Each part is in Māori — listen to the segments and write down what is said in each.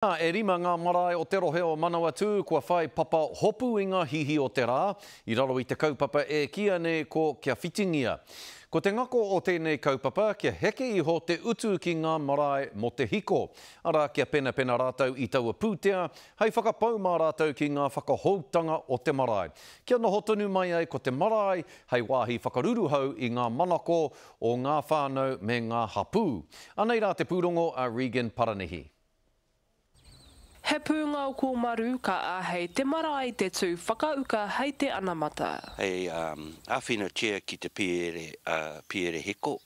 Nā, e rima ngā marae o te rohe o Manawatū kua whai papa hopu i ngā hihi o te rā, i raro i te kaupapa e kīia nei ko Kia Whitingia. Ko te ngako o tēnei kaupapa, kia heke iho te utu ki ngā marae mō te hiko, arā, kia penapena rātou i taua pūtea hei whakapau mā rātou ki ngā whakahoutanga o te marae, kia noho tonu mai ai ko te marae hei wāhi whakaruruhau i ngā manako o ngā whānau me ngā hapū. Anei rā te pūrongo a Regan Paranihi. He pūngaoko maru ka āhei te marae te tū whakauka hei te anamata. Hei āwhina chair ki te piere hiko,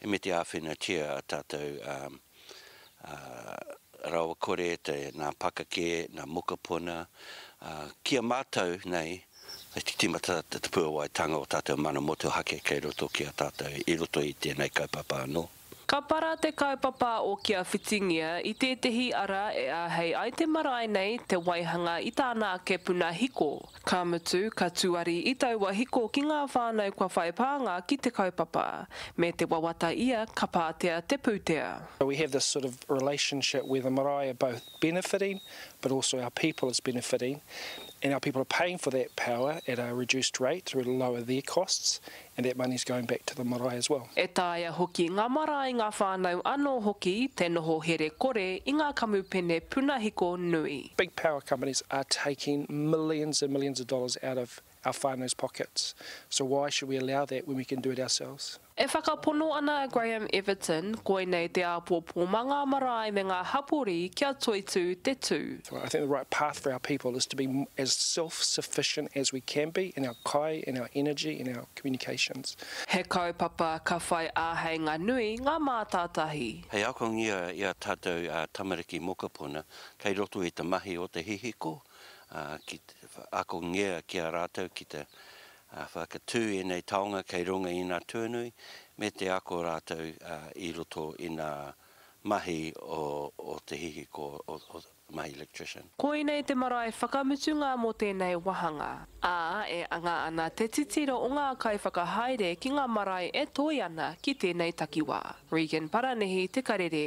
he mea te āwhina chair a tātou rawakore, nā pakake, nā mokopuna, ki a mātou nei, hei te tīmata te puawaitanga o tātou mana motuhake kei roto ki a tātou i roto i tēnei kaupapa anō. Ka para te kaupapa o Kia Whitingia i tētehi ara e āhei ai te marae nei te waihanga i tāna ake puna hiko, ka mutu, ka tuari i taua hiko ki ngā whānau kua whai pānga ki te kaupapa. Me te wawata ia ka pātea te pūtea. So we have this sort of relationship where the marae are both benefiting but also our people is benefiting and our people are paying for that power at a reduced rate to lower their costs and that money is going back to the marae as well. E taea hoki ngā marae, ngā whānau anō hoki te noho here kore i ngā kamupene punahiko nui. Big power companies are taking millions and millions of dollars out of our whānau's pockets, so why should we allow that when we can do it ourselves? E whakapono ana a Graham Everton, koinei te āpōpō mā ngā marae me ngā hapori kia toitū te tū. I think the right path for our people is to be as self-sufficient as we can be in our kai, in our energy, in our communications. He kaupapa ka whai āheinga nui ngā mātātahi. Hei akongia i a tātou a tamariki mokopuna kei roto i te mahi o te hihiko, ki te akongia ki a rātou ki te whakatū ēnei taonga kei runga inā tuanui me te ako rātou i roto inā mahi o te hihiko, mahi electrician. Koinei te marae whakamutunga mō tēnei wāhanga. Ā, e anga ana te titiro o ngā kaiwhakahaere ki ngā marae e toe ana ki tēnei takiwā. Regan Paranihi, Te Karere.